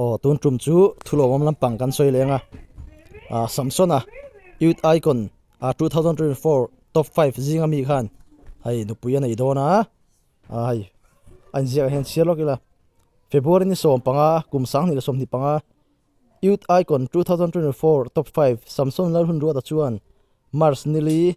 Aw tun tum chu thulawm lampang kan sawi leng a, ahh Samson a Youth Icon a two thousand twenty four top five zinga mi khan hei nupui a nei dawn a, ahh hei a inziak ah hian chhiar lawk ila February ni sawm panga kum sang ni leh sawmhnih panga Youth Icon two thousand twenty four top five Samson Lalhunduata chuan March nili.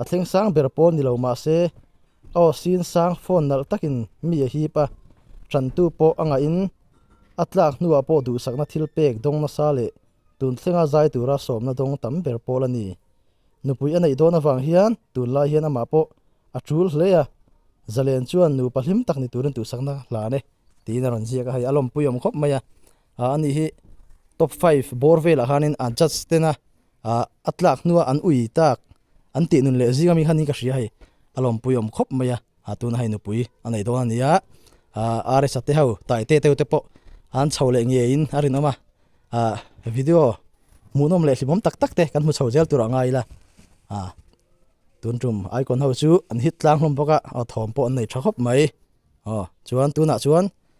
A thleng sang ber pawh ni lo mah se, aw sin sang phone nalh takin mi a hip a, ṭhantu pawh a ngaihin a tlak hnuah pawh duhsakna thil pek dawng nasa leh tun thlenga zai tura sawmna dawng tam ber pawl a ni. Nupui a neih dawn avang hian tunlai hian amah pawh a ṭul hle a, Zalen chuan nupa hlim tak ni turin duhsakna hlan e tiin a rawn ziak a, hei a lawmpui awm khawp mai a. A anih hi top five bawr velah khanin a judge tena a tlak hnua an ui tak an tih nun leh zinga mi khanin ka hria hei a lawmpui awm khawp mai a, tuna hei nupui a nei dawn a nia, RSA te ho tai te teu te pawh an chho leh ngeiin a rinawm a, video hmuhnawm leh hlimawm tak tak te kan hmu chho zel turah a ngai ila tun tum Icon ho chu an hit tlang hlawm bawk a, a thawm pawh an nei tha khawp mai, aw chuan tunah chuan.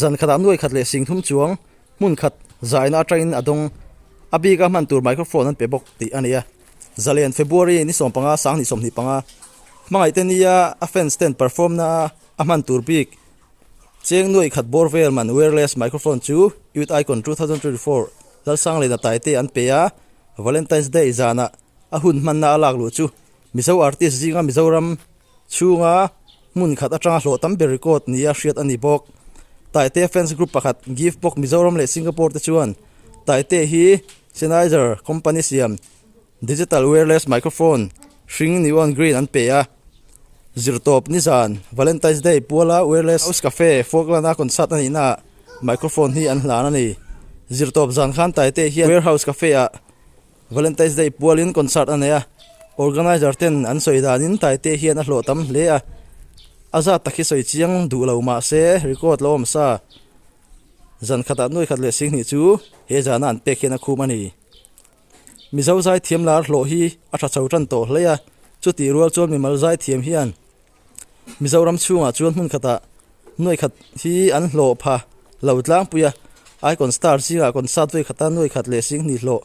Zan khatah nuai khat leh sing thum chuang hmun khat zaina atangin a dawng a bika hman tur microphone an pe bawk tih a nia. Zalen, February, ni sawm panga sang ni sawmhnih panga hmangaihte nia a fans ten performna a hman tur bik cheng nuai khat bawr vel man wireless microphone chu Youth Icon two thousand twenty four Lalsanglena Taite an pe a. Valentine's Day zanah a hun hmanna a lak luh chu Mizo artist zinga Mizoram. Chhunga hmun khat atanga hlawh tam ber record nih a hriat a ni bawk. Taite fans group pakhat, Givebox Mizoram leh Singapore te chuan Taite hi Sennheiser company siam digital wireless microphone hring neon green an pe a. Zir tawp nizan Valentine's Day puala Wireless House Cafe Foghlana concert a nihna ah microphone hi an hlan a ni. Zir tawp zan khan Taite hian Warehouse Cafe ah, Valentine's Day pualin concert a nei a, organizer ten an sawi danin Taite hian a hlawh tam hle a. A zat tak hi sawi chiang duh lo mah se record lo awm sa. Zan khatah nuaikhat leh singhnih chu he zana an pek hian a khum a ni. Mizo zai thiam lar hlawh hi a tha chho tan tawh hle a, chutih rual chuan mimal zai thiam hian, Mizoram chhungah chuan hmun khatah nuai khat hi an hlawh pha lo tlangpui a, Icon Star zingah concert vei khata nuai khat leh sing hnih hlawh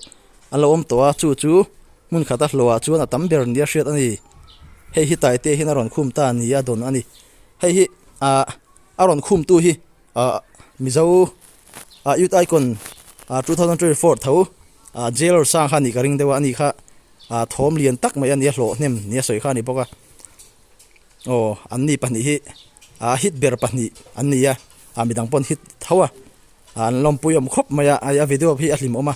a lo awm tawh a, chu chu hmun khata hlawha chuan a tam ber nia hriat a ni. Hei hi Taite hian a rawn khum ta nia dawn a ni. Hei hi ah a rawn khumtu hi. a mizo a youth icon a two thousand twenty four tho a jailor sang kha ni ka ring deuh a ani kha a thawm lian tak mai ania hlawh hnem nia sawi kha a ni bawk a aw an ni pahnih hi a hit ber pahnih an ni a a midang pawn hit tho a an lawmpui awm khawp mai a ai a video hi a hlim awm a.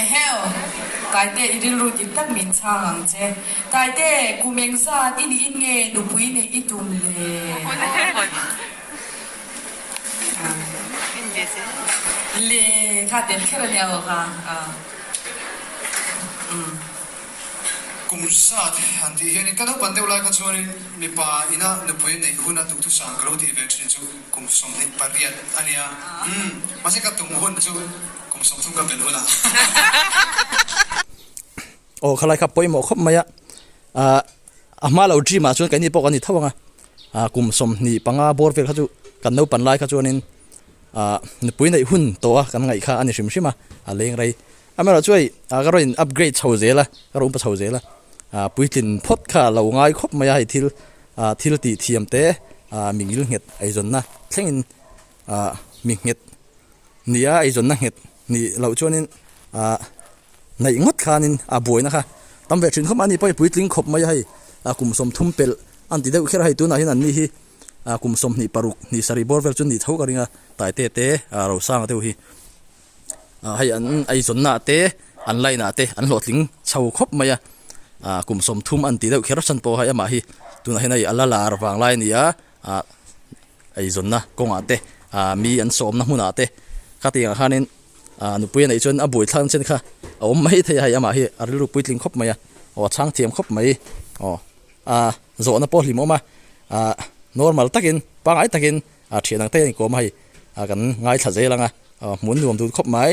Eheu! Kaite, i rilru dik tak min chhang ang che. Kaite, ku meng zat i niin nge nupui neih i tum le? Le kha tel kher a nia aw kha. Umm. Kum zat an tih hianin ka naupang deuh lai kha chuanin mipa ina nupui neih huna tukthusam ka lo tih ve thin chu. Kum sawm hi pariat a nia umm mahse ka tum hun chu kum sawm chu ka belh hun a. Aw khalai kha pawimawh khawp mai a, ah a hma lo dream ah chuan kaihni pawh kan ni tho ang a, ah kum sawm hnih panga bawr vel kha chu kan lo pan lai kha chuan in ah nupui neih hun tawh a kan ngaih kha a ni hrim hrim a, a leng rei am erawh chuai ah ka rawn in upgrade chho zel a ka rawn upa chho zel a, ah puitlin phawt kha lo ngai khawp mai a hei thil Thil tih thiam te mi ngil nghet eizawnna thlengin mi nghet nia eizawnna nghet nih loh chuanin naih ngawt khanin a buaina kha tam ve thin khawp a, ni pawh i puitling khawp mai a hei kum sawm thum pelh a ni ti deuh kher a, hei tunah hian an ni hi kum sawm hnih paruk hnih sarih bawr vel chu ni tho ka ringa Taite te Rosanga deuh hi ah hei an eizawnnaah te an line ah te an hlawhtling chho khawp mai a, ah kum sawmthum a ni tih deuh kher chhan pawh hei amah hi tunah hian hei a la lar vang lai a ni a, ah eizawnna kawngah te ah mi an sawmna hmunah te khatiang ah khanin ah nupui a neih chuan a buaithla nasa kha a awm maithei a hei amah hi a rilru puitling khawp mai a, aw a chhang thiam khawp mai aw ah zawhna pawh hlim awm a ah normal takin pangai takin. a thian ang te anih kawma hei a kan ngaithla zel anga hmun nuam dun khawp mai.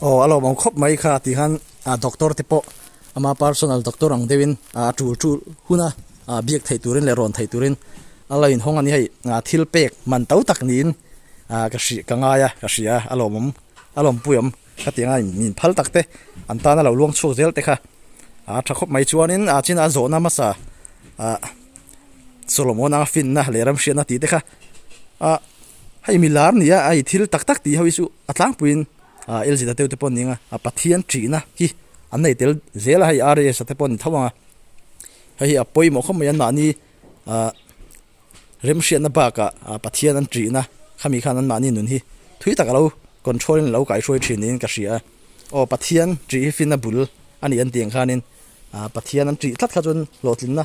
Aw, a lawm ang khawp mai kha tih khan doctor te pawh ama personal doctor ang deuhin a tul tul hun a, biak theih turin leh rawn theih turin a lo inhawng a ni hei. Thil pek man to tak niin ka hrilh ka ngai a, ka hria a, a lawm awm, a lawmpui awm ka tih anga min phal tak te an tan a lo luang chhuak zel te kha a tha khawp mai chuanin a Chinah zawhna hmasa Solomon anga finna leh ramhriatna tih te kha. a hei mi lar nia a i thil tak tak tih ho hi chu a tlangpuiin aaa L Zeta teutepawn ni ang a a Pathian ṭihna hi an nei tel zel a hei RAS te pawh a ni tho ang a hei hi a pawimawh khawp mai a mahni aaa remhriatna bakah aaa Pathian an ṭihna khami khan an mahni nun hi thui taka lo control in a lo kaihruai ṭhin niin ka hria a aw Pathian ṭih hi fin a bul a ni an tih ang khanin aaa Pathian an ṭih tlat kha chuan hlawhtlinna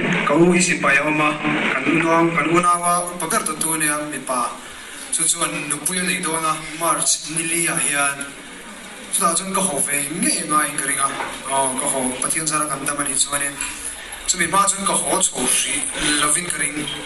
Ka u hi sipai a awm a, kan u nuam, kan u naua upa ber tawh tu ania mipa chu chuan nupui a nei dawn a, March nili ah hian chutah chuan ka haw ve ngei ngei ngaiin ka ring a, aw ka haw Pathian zara kan dam anih chuan in chumi hma ah chuan ka haw chho hrih lovin ka ring.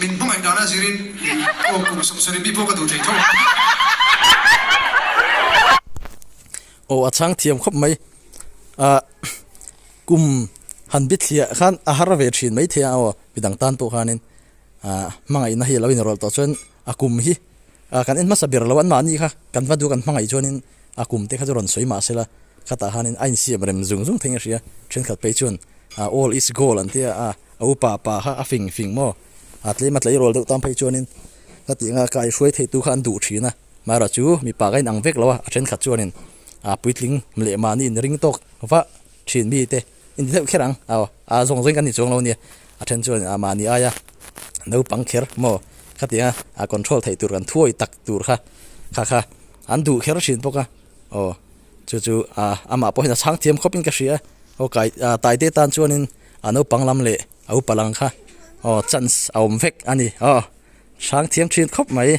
Min hmangaih dana zirin aw kum sawh sawh ri mi pawh ka duh thei tho a. Aw a chhang thiam khawp mai ah kum han bithliah khan a har ve thin maithei a aw midang tan pawh khanin. Ahh hmangaihna hi a lo inrawlh tawh chuan a kum hi ahh kan en hmasa ber lo anmah anih kha kan va duh kan hmangaih chuanin a kum te kha chu rawn sawi mahsela khatah hianin a insiam rem zung zung thei a hria thenkhat phei chuan ahh all is gold an tia a a upa pa kha a fing fing maw a tlem a tleirawl deuh tan phei chuanin ka tih anga kai hruai theitu kha an duh thin a Myra chu mipa ka inang vek lo a a thenkhat chuanin ahh puitling leh mahni in ring tawk vah thin mite. Inti deuh kher ang, aw, aa zawng zawng in kan ni chuang lo nia, a then chuan aa mahni aia naupang kher maw khatianga aa control theih tur kan thuawi tak tur kha kha kha an duh kher thin bawk a, aw, chu chu aa amah pawhin a chhang thiam khawpin ka hria a, aw kai aa Taite tan chuanin aa naupang lam leh a upa lang kha aw chance a awm vek a ni, aw, chhang thiam thin khawp mai.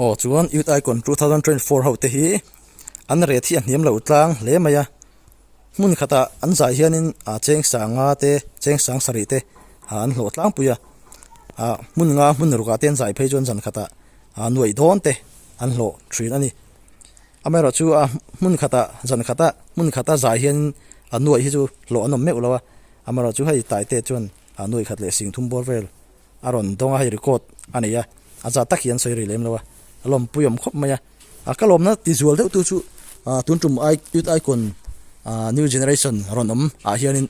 Aw chuan youth icon two thousand twenty four ho te hi an ret hi a hniam lo tlang hle mai a hmun khatah an zai hianin ah cheng sanga te cheng sang sarih te ah an hlawh tlangpui a ah hmun nga hmun ruk ah te an zai phei chuan zan khatah ah nuaih dawn te an hlawh thin a ni. Amaherawh chu a hmun khata zan khata hmun khata zai hian a nuaih hi chu hlawh an awm meuh lo a, amaherawh chu hei Taite chuan a nuaih khat leh singthum bawr vel a rawn dawng a, hei record a nei a, a za tak hi an sawi rih lem lo a, a lawmpui awm khawp mai a. A ka lawmna tizual deuhtu chu tun tum youth icon New Generation rawn awm ah hianin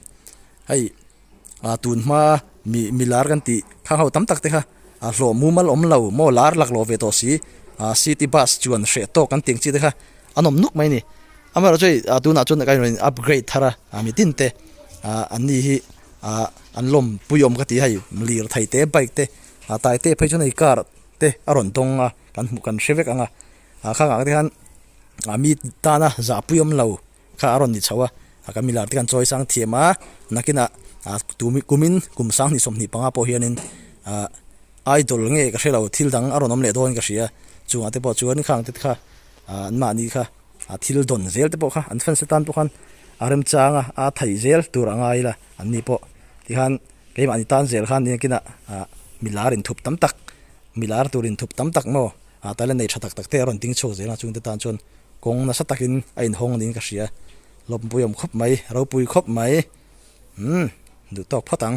hei A tun hma mi mi lar kan tih thlang ho tam tak te kha a hlawh mumal awm lo maw lar lak lo ve tawh si a city bus chuan hreh tawk kan tih ang chi te kha an awm nuk mai a ni amaherawh chu hei a tunah chuan ka rawn in upgrade thar a a mi tin te a an ni hi a an lawmpui awm ka ti a hei lirthei te bike te a tai tep phei chuan hei car te a rawn dawng a kan hmu kan hre vek ang a a kha ngai te khan a mi tana zahpui awm lo. Kha a rawn ni chho a, kan milar te kan chawi sang thiam a, nakinah kumin kum sang hnih sawmhnih panga pawh hianin idol nge ka hrelo thil dang a rawn awm leh dawngin ka hria, chungah te pawh chuan khang te kha an mahni kha thil dawn zel te pawh kha an fans te tan pawh khan a remchang a, a theih zel tur a ngai ila an ni pawh tikhan keimahni tan zel khan niang kinah milar inthup tam tak milar tur inthup tam tak maw. A tala nei tha tak tak te a rawn ding chhuak zel ang a, chungte tan chuan kawng nasa takin a inhawng niin ka hria. Lawmpui awm khawp mai, ropui khawp mai. Umm, duh tawk phawt ang.